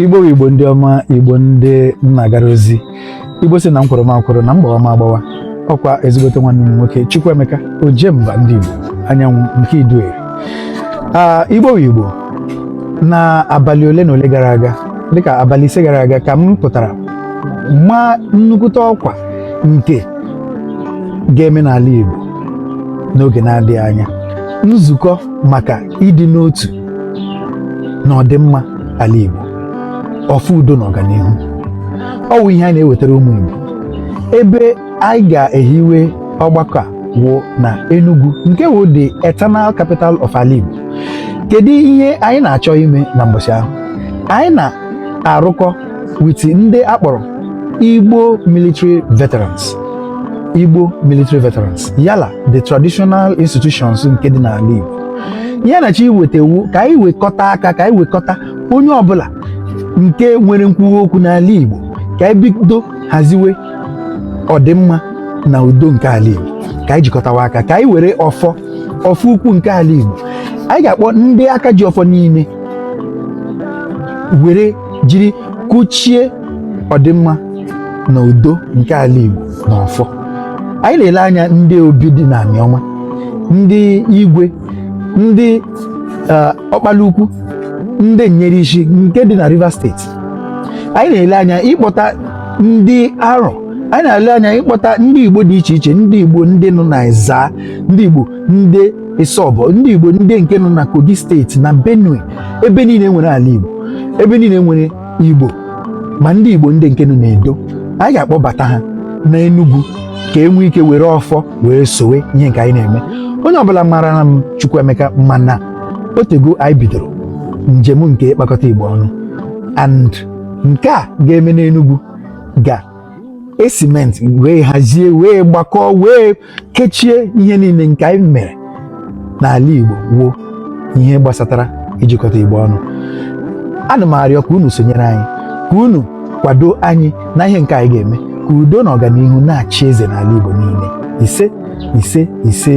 Igbo wụ Igbo ndị ọma igbo ndị m na-agara ozi igbo si na nkwụrụ m akwụrụ na mgbawa m agbawa ọkwa ezigbote nwanne m nwoke Chukwuemeka Ojemba ndị Igbo anyanwụ nke Idue ah, Igbo wụ Igbo na abalị ole na ole gara aga dịka abalị ise gara aga ka m pụtara ma nnukwute ọkwa nke ga-eme n'ala Igbo n'oge na-adịghị anya nzukọ maka ịdị n'otu na ọdịmma ala Igbo ọfọ udo na ọganihu ọ wụ ihe anyị na-ewetara ụmụ Igbo ebe anyị ga-ehiwe ọgbakọ a wụ na Enugu nke wụ the eternal capital of ala Igbo kedu ihe anyị na-achọ ime na mbọchị ahụ anyị na-arụkọ with ndị a kpọrọ Igbo military veterans Igbo military veterans ya la the traditional institutions nke dị n'ala Igbo ihe a na-achọ iweta wụ ka anyị wekọta aka ka anyị wekọta onye ọbụla nke nwere nkwuwa okwu n'ala Igbo ka anyị bido haziwe ọdịmma na udo nke ala Igbo ka anyị jikọtawa aka ka anyị were ọfọ ọfọ ukwu nke ala Igbo anyị ga-akpọ ndị aka ji ọfọ niile were jiri kụchie ọdịmma na udo nke ala Igbo na ọfọ anyị na-ele anya ndị obi dị na Aniọma ndị igwe ndị eh, ọkpala ukwu ndị Nyerishi nke dị na Rivers steeti anyị na-ele anya ịkpọta ndị Arọ anyị na-ele anya ịkpọta ndị Igbo dị iche iche ndị Igbo ndị nọ na Ezaa ndị Igbo ndị Isọbọ ndị Igbo ndị nke nọ na Kogi steeti na Benue ebe niile nwere ala Igbo ebe niile nwere Igbo ma ndị Igbo ndị nke nọ n'Edo anyị ga-akpọbata ha na Enugu ka e nwee ike were ọfọ wee sowe ihe nke anyị na-eme onye ọbụla mara na m Chukwuemeka ma na o tego anyị bidoro njem nke ịkpakọta Igbo ọnụ and nke a ga-eme n'Enugu ga-esimenti wee hazie wee gbakọọ wee kechie ihe niile nke anyị mere n'ala Igbo wụ ihe gbasatara ijikọta Igbo ọnụ ana m arịọ ka unu sonyere anyị ka unu kwado anyị na ihe nke anyị ga-eme ka udo na ọganihu na-achị eze n'ala Igbo niile ise ise ise